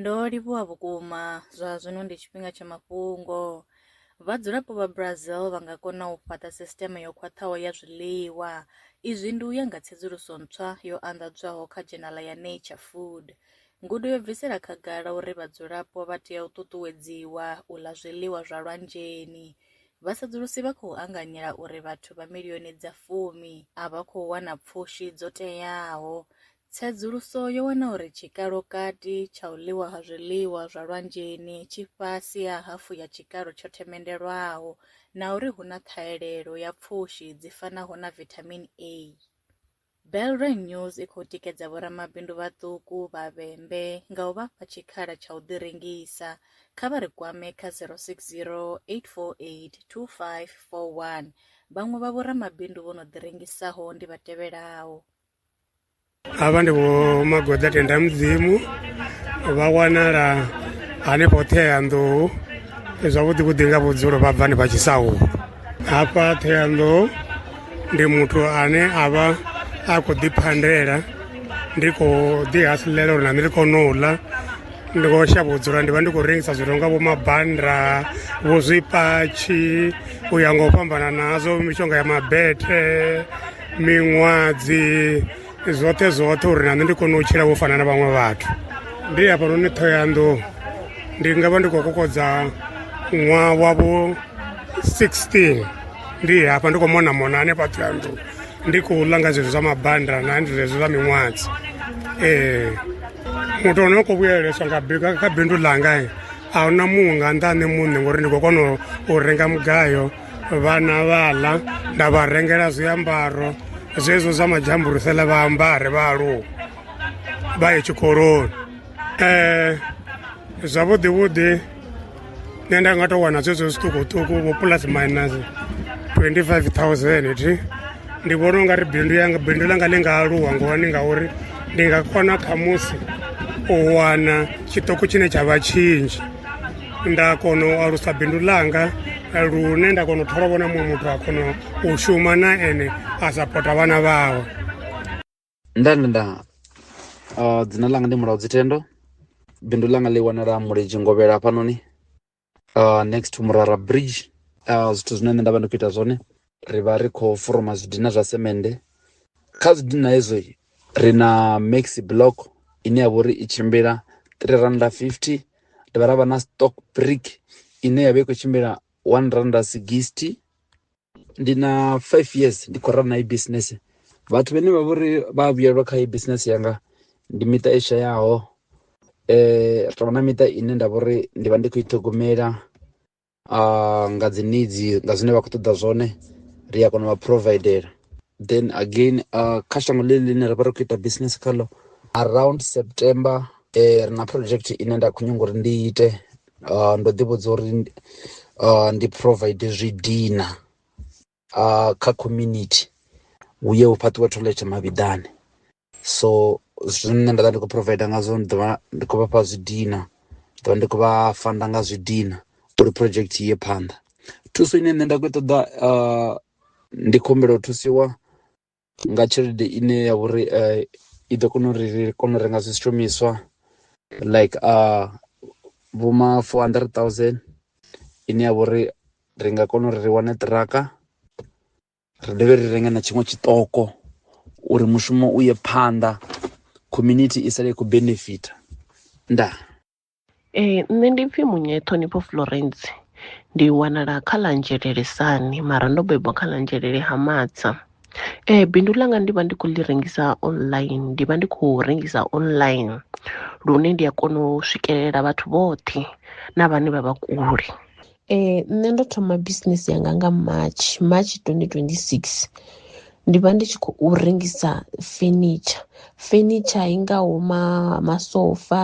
Ndo livhuwa vhukuma, zwa zwino ndi tshifhinga tsha mafhungo. Vhadzulapo vha Brazil vha nga kona u fhaṱa sisiteme yo khwaṱhaho ya zwiḽiwa. Izwi ndi u ya nga tsedzuluso ntswa yo anḓadzwaho kha dzhenala ya Nature Food. Ngudo yo bvisela khagala uri vhadzulapo vha tea u ṱuṱuwedziwa u ḽa zwiḽiwa zwa lwanzheni. Vhasedzulusi vha khou anganyela uri vhathu vha milioni dza fumi a vha khou wana pfushi dzo teaho. Tsedzuluso yo wana uri tshikalo-kati tsha u ḽiwa ha zwiḽiwa zwa lwanzheni tshi fhasi ha hafu ya tshikalo tsho themendelwaho na uri hu na ṱhahelelo ya pfushi dzi fanaho na vithamini A. Belrang News i khou tikedza vhoramabindu vhaṱuku vha vhembe nga u vha fha tshikhala tsha u ḓirengisa. Kha vha ri kwame kha 060 848 2541. Vhaṅwe vha vhoramabindu vho no ḓirengisaho ndi vha tevhelaho. avha ndi vho magoḓa tenda mudzimu vha wanala hanefho ṱheyanḓou zwavhuḓi vhuḓi nga vhudzulo vha bva ni vha tshisahu hafha ṱheyanḓou ndi muthu ane a vha a khou ḓiphandela ndi khou ḓihasilela uri na nṋe ndi kone u ḽa ndi khou shavha u dzula ndi vha ndi khou rengisa zwithu nga vho mabanda vho zwipatshi u ya nga u fhambana nazwo mishonga ya mabete miṅwadzi zwoṱhe zwoṱhe uri na nṋe ndi kone u tshila vho fana na vhaṅwe vhathu ndi hafhanoni thohoyandou ndi nga vha ndi khou kokodza ṅwaha wavho 16 ndi hafha ndi khou mona mona hanefha thohoyandou ndi khou ḽa nga zwezwo zwa mabanda na ndi zwezwo zwa miṅwadzi ee muthu ono khou vhuyeleswa nga kha bindu ḽanga a huna muṅwe nga nnḓa ha nṋe muṋe ngori ndi khou kona u renga mugayo vhana vha ḽa nda vha rengela zwiambaro zwezwo zwa madzhamburusele vha ambare vha aluwa vha ye tshikoloni um zwavhuḓi vhuḓi nṋe nda nga tou wana zwezwo zwiṱukuṱuku vho plus minus 25000 thi ndi vhona u nga ri bindu yanga bindu ḽanga ḽi nga aluwa ngohani ngauri ndi nga kona khamusi u wana tshiṱoko tshine tsha vha tshinzhi nda kona u alusa bindu ḽanga lune nda kona u thola vhona muṅwe muthu a kona u shuma na ene a sapota vhana vhawe nda nda nda uh, dzina langa ndi mulaudzi tendo bindu langa ḽi wanala muledzhi ngovhela hafhanoni uh, next to murara bridge uh, zwithu zwine nṋe nda vha ndi khou ita zwone ri vha ri khou foroma zwidina zwa semende kha zwidina hezwo ri na maxi block ine ya vha uri i tshimbila 3 randa 50 dovha ra vha na stock brick ine ya vha i khou tshimbila 1 randa 60 ndi na five years ndi khou rana i business vhathu vhane vha vhori vha vhuyelwa kha i business yanga ndi miṱa i shayaho eh ri na miṱa ine nda vhori ndi vha ndi khou i ṱhogomela uh, nga dzi needs nga zwine vha khou ṱoḓa zwone ri a kona u vha providela then again uh, kha shango ḽi ḽine ra vha ri khou ita business khaḽo around september eh, ri na project ine nda khou nyanga uri ndi ite uh, ndo ḓi vhudza uri uh, ndi provide zwi dina uh, kha community hu ye hu fhaṱiwe toilet mavhiḓani so zwine nda vha ndi khou provide ngazwo ndi ḓovha ndi khou vhafha zwi dina ḓovha ndi khou vha fanda nga zwi dina uri project iye phanḓa thuso ine nṋe nda khou ṱoḓa uh, ndi khumbelo thusiwa nga tshelede ine ya vha uri i ḓo kona uri ri kone u renga zwishumiswa like vho ma four hundred thousand ine ya vha uri ri nga kona uri ri wane ṱiraka ri dovhe ri renge na tshiṅwe tshiṱoko uri mushumo u ye phanḓa community i sala i khou benefitha. Ndaa. Ee nṋe ndi pfhi Munya Ṱhonifho Florence ndi wanala kha ḽa Nzhelele Sani mara ndo bebwa kha ḽa Nzhelele ha Matsa. Ee bindu ḽanga ndi vha ndi khou ḽi rengisa online ndi vha ndi khou rengisa online lune ndi a kona u swikelela vhathu vhoṱhe na vhane vha vha kule. Ee, nṋe ndo thoma bisinese yanga nga March, March twenty twenty six ndi vha ndi tshi khou rengisa fenitsha, fenitsha i ngaho ma masofa,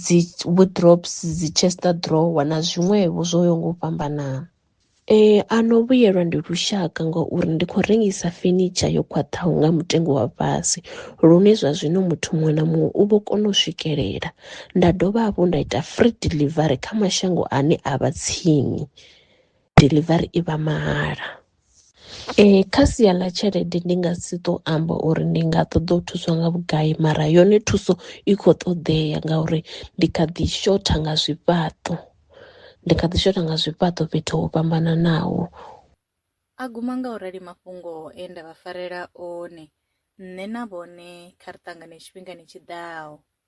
dzi wardrobes, dzi chest drawer na zwiṅwevho zwo yaho nga u fhambanana. Ee, a no vhuyelwa ndi lushaka ngauri ndi khou rengisa fenitsha yo khwaṱhaho nga mutengo wa fhasi lune zwa zwino muthu muṅwe na muṅwe u vho kona u swikelela. nda dovha hafhu nda ita free delivery kha mashango ane a vha tsini delivery i vha mahala. Ee kha sia ḽa tshelede ndi nga si to amba uri ndi nga ṱoḓa u thuswa nga vhugai mara yone thuso i kho ṱoḓea ngauri ndi kha ḓi shotha nga zwifhaṱo ndi kha ḓi shotha nga zwifhaṱo fhethu ho fhambananaho. A guma nga u rali mafhungo e nda vha farela one nṋe na vhone kha ri ṱangane tshifhingani tshiḓaho.